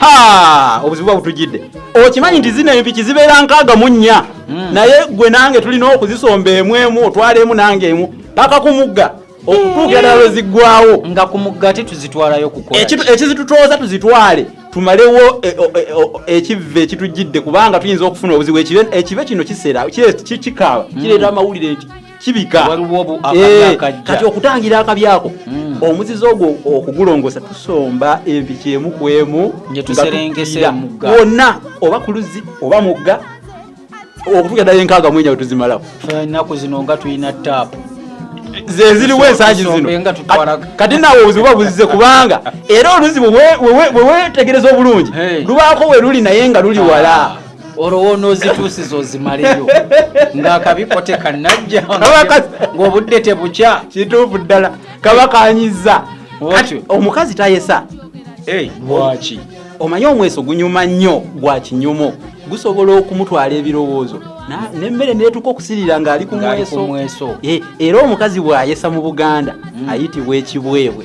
Ha! obuzibu bwa butujjidde okimanyi nti zino empiki zibeera nkaaga mu nnya hmm. naye gwe nange tulina okuzisomba emu emu otwala emu nange emu paka kumugga okutuukira ddala lweziggwawo nga ku mugga ti tuzitwalayo kukola ekizitutooza tuzitwale tumalewo e, e, e, ekivve ekitujjidde kubanga tuyinza okufuna obuzibu ekibe kino kisera kikaaba hmm. kireeta amawulire nti kibika eh, kati okutangira akabi ako hmm. omuzizi ogwo okugulongosa tusomba empiki emu ku emu wonna oba ku luzzi oba mugga okutuuka ddala enkaaga mwenya wetuzimalako enaku zino nga tulina taapu zeziriwo ensangi zino kati nawe obuzibu buba buzize kubanga era oluzibu wewetegereza obulungi lubaako we luli naye nga luli wala olwo wonoozituusiza ozimaleyo ng'akabiko tekanajja ng'obudde tebukya kituufu ddala kaba kanyiza omukazi tayesa lwaki omanyi omweso gunyuma nnyo gwa kinyumu gusobola okumutwala ebirowoozo nemmere netuka okusirira ng'ali ku mweso era omukazi bw'ayesa mu buganda mm. ayitibwa ekibwebwe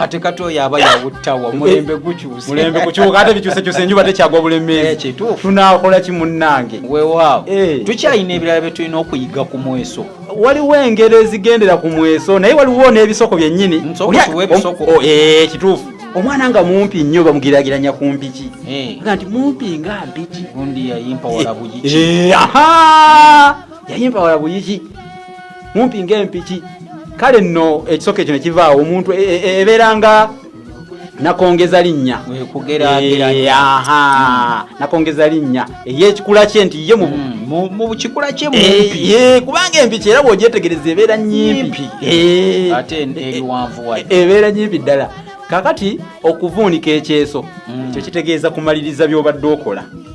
ate kati oyo aba yawuttawa eh, mulembe gukyusemulembe kukyuka ate bikyusekyuse enjuba tekyagwa bulemeezi eh, tunakola ki munnange wewaawo eh. tukyalina ebirala bye tulina okuyiga ku mweso waliwo engero ezigendera ku mweso naye waliwo n'ebisoko byennyini oh, kituufu omwana nga mumpi nnyo bamugiragiranya ku mpiki nga nti mumpi nga mpiki yayimpa wala buyiki mumpi ng'empiki kale nno ekisoka ekyo ne kivaawo omuntu e- e- e- ebeera nga nakongeza linnya Eh, aha, nakongeza linnya eyekikula kye nti ye mu Mm, mu kikula kye mumpi Eh, eh, kubanga empiki era bwogyetegereza ebeera nyimpi Eh, ate ebiwanvu wa e- ebeera nyimpi ddala kakati okuvuunika ekyeso Mm. ekyo kitegeeza kumaliriza byobadde okola